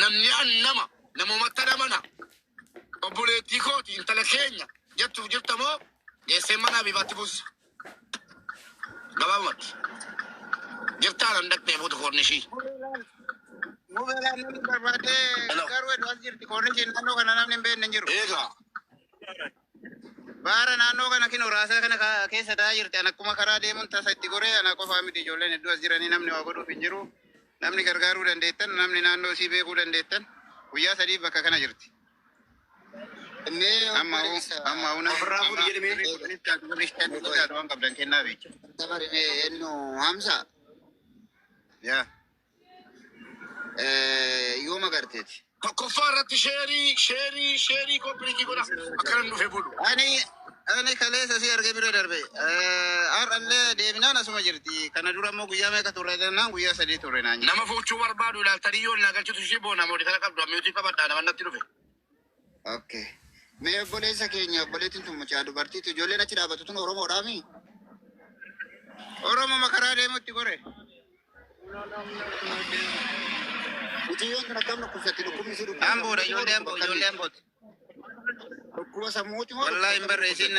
Namni an nama namumattan amana obboleettii kooti intala keenya jettuuf jirta moo geessee mana abibaatti buussa gabaabumatti jirtaa nan dhaqxee fuutu koornishii Mubeeraa namni barbaadee Hello. garuu hedduu as jirti koornishiin naannoo kana namni hin beekne hin jiru. eegaa Baara naannoo kana kinoo raasaa kana ka- keessa taa'aa jirti. An akkuma karaa deemuun tasa itti goree anaa qofaa miti ijoolleen hedduu as jiranii namni waa godhuuf hin jiru. Namni gargaaruu dandeettan, namni naannoo isii beekuu dandeettan guyyaa sadiif bakka kana jirti. Amma hoo amma hoo namni Ofirraa fuudhi jedhime. birrii kudhanis taatu birrii shaniis taatu waan qabdan kennaa beektu. Yaa Eh, yooma garteeti. Tokkoffaa irratti sheerii sheerii sheerii koppiriitii godha akkana hin dhufe bulu. Ani ani kaleessa si arge bira darbe. Eh, Har'allee deebinaan asuma jirti. Kana dura immoo guyyaa meeqa turre jennaan guyyaa sadii turre naan jedhe. Nama fuuchuu barbaadu ilaaltanii yoo naa galchitu ishee boona moodi kana qabdu ammiyuutii qabadhaa nama natti dhufe. Ok. Mee obboleessa keenya obboleettiin tun mucaa dubartiitu ijoolleen achi dhaabatu tun Oromoodhaa mii? Oromo makaraa deemutti gore. Mucayyoon tun akkam dhukkubsatti dhukkubni si dhukkubsa. Amboodha ijoollee amboo ijoollee ambooti. Dhukkuba sammuuti moo? Wallaahi hin barreessiin.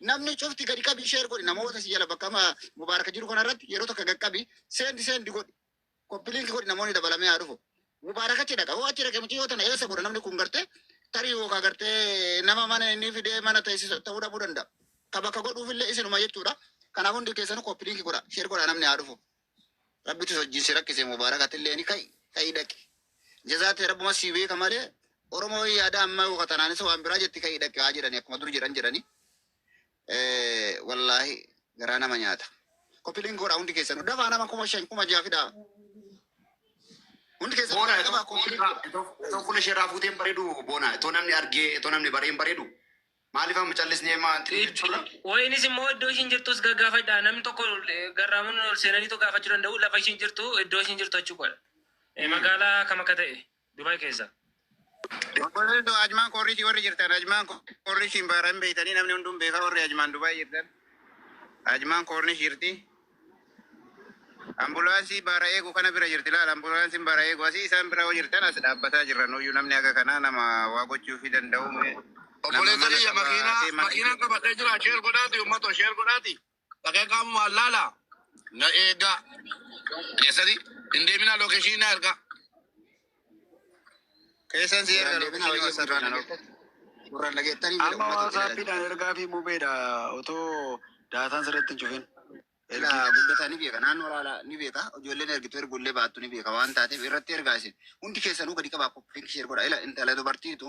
Namni cufti gadi qabi share godhi namoota si jala bakka amma Mubaarak jiru kana irratti yeroo tokko gad qabi send send godhi. Copy link godhi namoonni dabalamee haa dhufu. Mubaarak achi dhaqa. Hoo achi dhaqe miti yoo tana eessa godha namni kun gartee tarii yookaan gartee nama mana inni fidee mana teessisa ta'uu dhabuu danda'a. Ka bakka godhuuf illee isinuma jechuudha. Kanaaf hundi keessanuu copy link godha share godha namni haa dhufu. Rabbitu hojjii si rakkise Mubaarak atilleeni ka'i ka'i dhaqi. Jazaa tee Rabbuma sii beeka malee Oromoo yaada ammaa yooka tanaanis waan biraa jetti ka'i dhaqi haa jedhani akkuma dur jedhan jedhani. Eh, Wallaahi garaa nama nyaata. Kopiliin goodha hundi keessanuu dafaa nama kuma shan kuma ja'a fidaa. Hundi keessanuu Boona dafaa kopiliin goodha. itoo fuula isheerraa fuuteen bareedu boona itoo namni argee itoo namni bareen bareedu Maaliif amma callisni emaa anti jechuudha. Wayinis immoo iddoo ishiin jirtus gaggaafadha. Namni tokko garraamuun ol seenaniitu gaafachuu danda'u. Lafa ishiin jirtu iddoo ishiin jirtu achi godha. Magaalaa kam akka ta'e Dubaay keessa. Obboleettoo Ajmaan Koorriitii warri jirtan Ajmaan Koorriitiin baara hin beektanii namni hunduu hin beekaa warri Ajmaan Dubaay jirtan Ajmaan Koornish jirti. Ambulaansii baara eegu kana bira jirti laal ambulaansin baara eegu asii isaan bira yoo jirtan as dhaabbataa jirra nuuyyu namni haga kanaa nama waa gochuufi danda'u mee Obboleessa kiyya makiina makiinaan qabadhee jira sheer godhaati ummato sheer godhaati dhaqee qaamumaan laala na eegaa keessati hin deeminaa lookeshiinii na ergaa. Keessan si erga Siraan deebina lookeshini baay'ee wasaapii guddinaan naan erga. ok. Gurraan dhageettanii Amma ummata itti wasaapii naan jiraachisa. ergaa fi mubeedha otoo daataan sirriitti hin cufin. Ergii Ilaa fi guddataa ni beeka naannoo laalaa ni beeka ijoolleen ergitu ergullee baattu ni beeka waan taateef irratti ergaa isin hundi keessanuu gadi qabaa koppiliinki sheer godha ila intala dubartiitu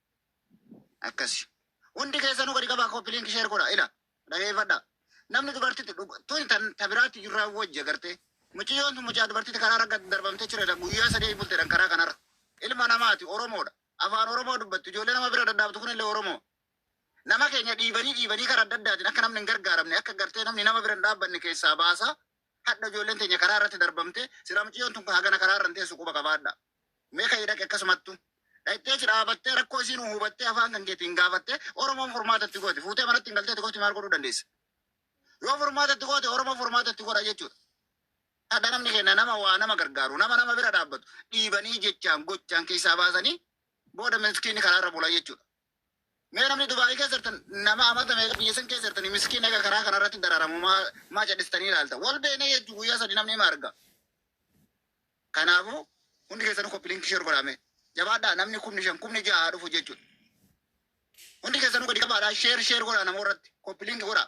akkasi hundi keessanuu gadi qabaa copy link share godha ila dhageeffadha namni dubartitti dhug- tun tan ta biraatti jirraa wajji agartee mucayyoon tun mucaa dubartitti karaa ragga darbamtee jiredha guyyaa sadii bultedhan karaa kanarra ilma namaati oromoodha afaan oromoo dubbattu ijoollee nama bira daddaabtu kunillee oromoo nama keenya dhiibanii dhiibanii karaa adda addaatiin akka namni hin gargaaramne akka gartee namni nama bira hin dhaabbanne keessaa baasaa hadha ijoolleen teenya karaa irratti darbamte sira mucayyoon tun hagana karaa irra hin teessu quba qabaadha Mee ka'ii dhaqi akkasumattu. Dhaqxee achi dhaabattee rakkoo isiin hubattee afaan kan keetiin gaafattee Oromoon furmaata itti goote. Fuutee manatti hin galtee itti gooti maal godhuu dandeessa? Yoo furmaata itti goote Oromoo furmaata itti godha jechuudha. Hadha namni kenna nama waa nama gargaaru nama nama bira dhaabbatu dhiibanii jechaan gochaan keessaa baasanii booda miskiinni karaarra bula jechuudha. Mee namni dubai keessa jirtan nama amata meeqa biyya san keessa jirtani miskiin ega karaa kana irratti dararamu maa maa cadhistanii ilaalta wal beeknee jechuu guyyaa sadi namni ima arga kanaafu hundi keessanuu koppi linkii share godhaa mee jabaadhaa namni kumni shan kumni ja'a haa dhufu jechuudha hundi keessanuu gadi qabaadhaa share share godhaa namoo irratti koppi linkii godhaa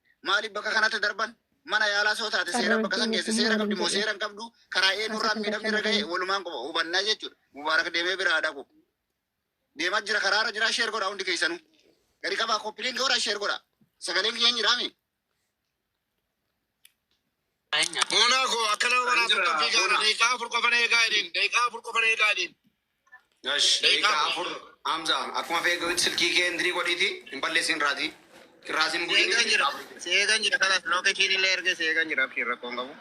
Maaliif bakka kanatti darban? Mana yaalaa soo taate seera bakka san keessa seera qabdi moo seera hin qabdu? Karaa eenyurraan miidhamni irra ga'e walumaan qofa hubannaa jechuudha. Mubaarak deemee biraa dhaqu. Deemaa jira karaarra jira sheer godha hundi keessanuu. Gadi qabaa koppiliin godha sheer godha. Sagaleen kiyya hin jiraami. Moonaa koo akkana mana tokko fiigaa daqiiqaa afur qofan eegaa jedhin daqiiqaa afur qofan eegaa jedhin. Gash, Daqiiqaa daqiiqaa afur. afur. Hamza, akkuma fe'ee gahutti silkii kee indirii godhiiti. Hin balleessin irraati. Irraas hin bu'in. Seegan jira. Seegan jira. Kanas lookeshiin illee erga seegan jira. Abshiin rakkoon qabu.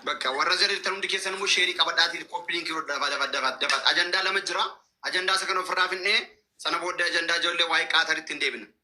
Bakka warra zariirtan hundi keessan immoo sheerii qabadhaatii koppiliin kii dafa dafa dafa dafa. Ajandaa lama jira. Ajandaa isa kan ofirraa finnee sana booddee ajandaa ijoollee waa'ee qaataritti hin deebina.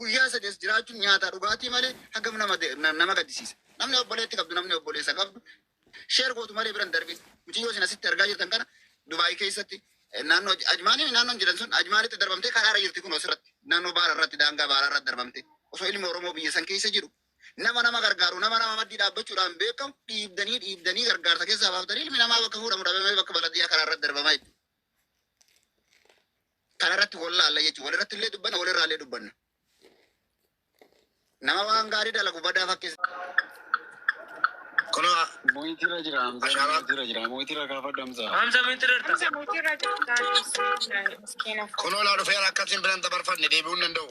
Guyyaa sadii as jiraachuun nyaataa dhugaatii malee hagam nama nama gaddisiisa. Namni obboleetti qabdu namni obboleessa qabdu sheer gootu malee biran darbin. Mucayyoo isin asitti argaa jirtan kana Dubaay keessatti naannoo Ajmaanii naannoon jedhan sun Ajmaanitti darbamtee karaarra jirti kun osirratti naannoo baara irratti daangaa baaraa irratti darbamtee osoo ilmi Oromoo biyya san keessa jiru nama nama gargaaru nama nama maddii dhaabbachuudhaan beekamu dhiibdanii dhiibdanii gargaarsa keessaa baaftanii ilmi namaa bakka fuudhamu dhabamee bakka baladiyyaa karaarratti darbamaa jechuudha. Kana irratti wal laalla jechuudha. Wal irratti illee dubbanna, wal irraa illee dubbanna. Nama waan gaarii dalagu badaa fakkisa. Kunoo Muhiitirra jira Hamzaa. Ashaabaa. Muhiitirra jira. Muhiitirra kaafadhu Hamzaa. Hamza miti rarta. Hamza mootii irra jirtaa miskiina. kunoo laa dhufeera akkasiin biran dabarfanne deebi'uu hin danda'u.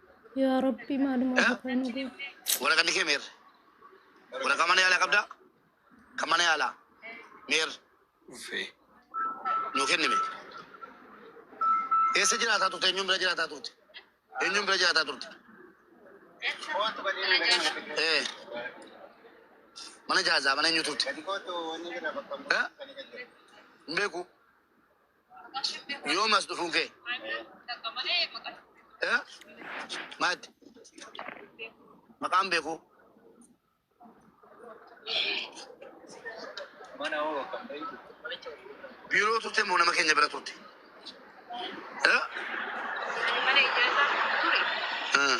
Yaa Rabbi maalumaa Eh? bukaa nu goo. Waraqaan kee meerre? Waraqaa mana yaalaa qabdaa? Kan mana yaalaa meerre? Uffee. Nuu kennime. Eessa jiraataa turte? Eenyuun bira jiraataa turte? Eenyuun bira jiraataa turte? Eh. Mana jaazaa mana eenyu turte? Eh? Hin beeku. Yoom as dhufuu kee? Eh? Maatti? Maqaan beekuu? Biiroo turte moo nama keenya bira turte? Eh? Eh.